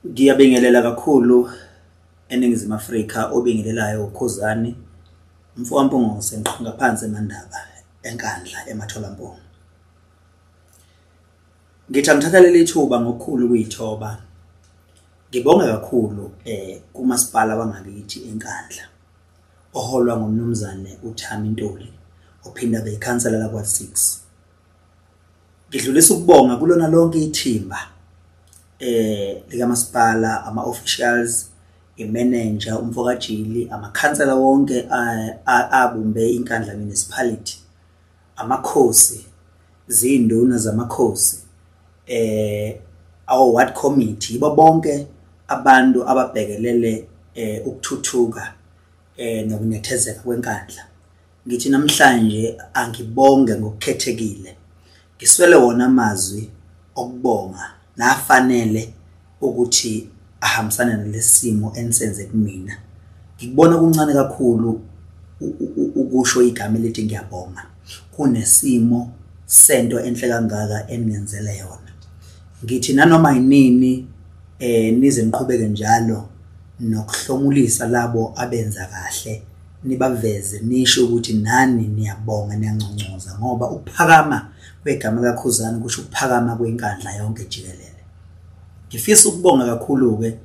Ngiyabingelela kakhulu eNingizimu Afrika obingelelayo uKhuzani mfowaMpungose ngiqhamuka phansi eMandaba eNkandla eMatholamponi. Ngithi angithatha leli thuba ngokukhulu ukuyithoba ngibonge kakhulu eh kumasipala wangakithi eNkandla oholwa ngumnumzane uThami Ntuli ophinda beyikhansela lakwa-6 ngidlulisa ukubonga kulona lonke ithimba eh likamasipala ama officials imanager umfokajili amakhansela wonke eh, abumbe inkandla municipality amakhosi zinduna zamakhosi eh our ward committee yibo bonke abantu ababhekelele eh ukuthuthuka eh nokunethezeka kwenkandla Ngithi namhlanje angibonge ngokukhethekile. Ngiswele wona amazwi okubonga nafanele ukuthi ahambisane nalesimo enisenze kumina. Ngikubona kuncane kakhulu ukusho igama elithi ngiyabonga kunesimo sento enhle kangaka eningenzele yona. Ngithi nanoma yinini eh nize niqhubeke njalo nokuhlomulisa labo abenza kahle nibaveze nisho ukuthi nani niyabonga niyanconcoza ngoba ukuphakama kwegama kaKhuzani kusho ukuphakama kwenkandla yonke jikelele ngifisa ukubonga kakhulu-ke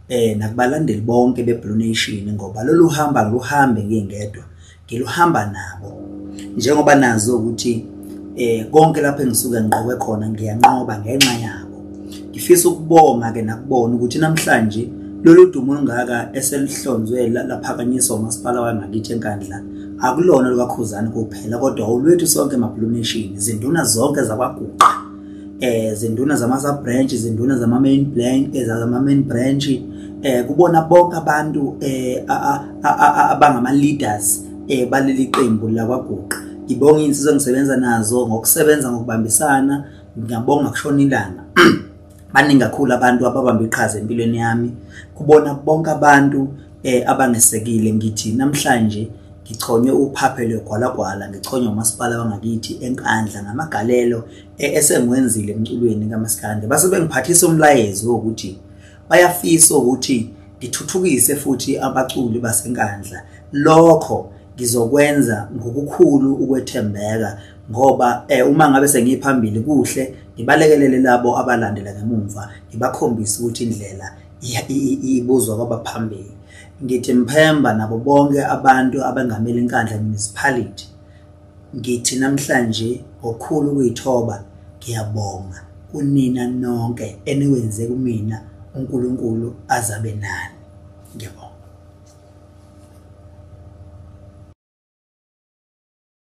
eh nakubalandeli bonke beBlue Nation ngoba lolu hamba luhambe ngingedwa ngiluhamba nabo njengoba nazo ukuthi eh konke lapho engisuke ngiqoke khona ngiyanqoba ngenxa yabo ngifisa ukubonga ke nakubona ukuthi namhlanje lolu dumo olungaka eselihlonzwe laphakanyiswa umasipala wangakithi enkandla akulona lukakhuzani kuphela kodwa olwethu sonke emabhuluneshini izinduna zonke zakwaguqa eh zinduna zama sub branch zinduna zama main blank ezama eh, main branch eh kubona bonke abantu eh abangama leaders eh baleli qembu la kwaguqa ngibonga insizwa ngisebenza nazo ngokusebenza ngokubambisana ngiyabonga kushona ilanga baningi kakhulu abantu ababamba iqhaza empilweni yami kubona bonke abantu eh abangesekile ngithi namhlanje ngichonywe uphaphe lwegwalagwala ngichonywe umasipala wangakithi enkandla ngamagalelo eh, esengiwenzile emculweni kamaskande base bengiphathisa umlayezo wokuthi bayafisa ukuthi ngithuthukise futhi abaculi basenkandla lokho ngizokwenza ngokukhulu ukwethembeka ngoba eh uma ngabe sengiphambili kuhle ngibalekelele labo abalandela ngemumva ngibakhombise ukuthi indlela ibuzwa kwabaphambili ngithi mphemba nabo bonke abantu abengamele inkandla municipality ngithi namhlanje ngokhulu ukuyithoba ngiyabonga kunina nonke eniwenze kumina uNkulunkulu azabe nani ngiyabonga